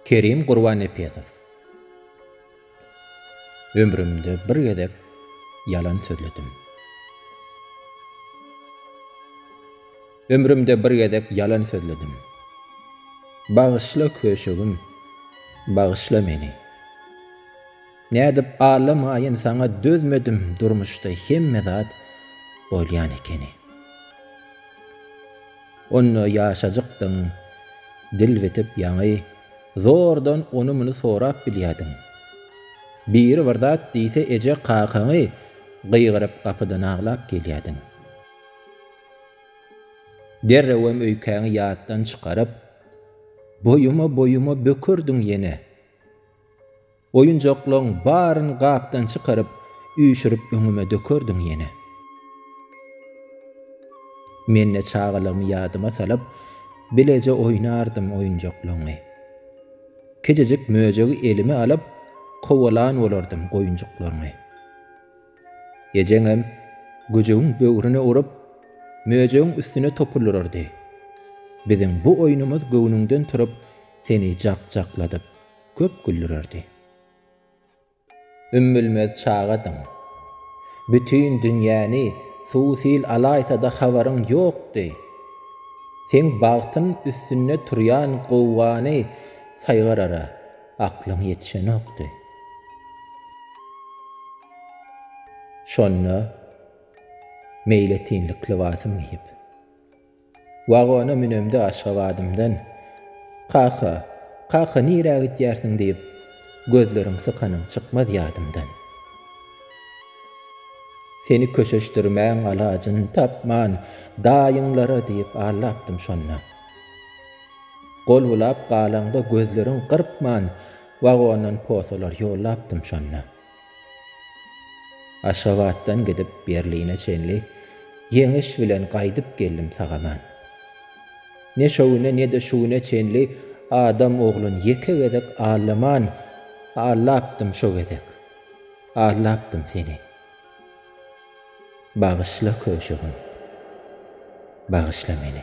Kerim Gurbannepesow Ömrümde bir gezek ýalan sözledim. Ömrümde bir gezek ýalan sözledim. Bagyşla köşegim, bagyşla meni. Nädip allamaýyn saňa dözmedim durmuşda hemme zat bolýan ekeni. Onda ýaşajykdyň, dil bitip ýaňy, zordan ony-muny sorap bilýärdiň. Biri bir zat diýse eje kakaňy gygyryp gapydan aglap gelýärdiň. Derrewem öýkäňi ýatdan çykaryp, boýuma-boýuma bökerdiň ýene. Oýunjaklaň baryn gapdan çykaryp, üýşürip öňüme dökerdiň ýene. Men-de çagalygymy ýadyma salyp, bileje oýnardym oýunjaklaňy. Kiçijik möjegi elime alyp, kowalan bolardym goýunjyklaňy. Ejeňem güjügiň böwrüne urup, möjegiň üstüne topulurardy. Biziň bu oýnumyz göwnüňden turup, seni jak-jakladyp, köp güldürerdi. Ümmülmez çagadyň. Bütin dünýäni suw-sil alaýsa-da habaryň ýokdy. Seň bagtyň üstünde turýan gowgany saýgarara aklyň ýetişenokdy. Şonda meýletinlik lybasym geýip. Wagona münemde Aşgabadymdan, Kaka, kaka nirä gitýärsiň diýip, Gözleriň sykanyň çykmaz ýadymdan. Seni köşeşdirmäň alajyn tapman, Daýyňlara diýip allapdym şonda. Gol bulap galaňda gözleriň gyrpman, Wagondan posalar ýollapdym şonda. Aşgabatdan gidip Berline çenli Ýeňiş bilen gaýdyp geldim sag-aman. Ne şo güne ne-de şu güne çenli Adam oglun ýeke gezek allaman Allapdym şo gezek, allapdym seni. Bagyşla köşegim, bagyşla meni.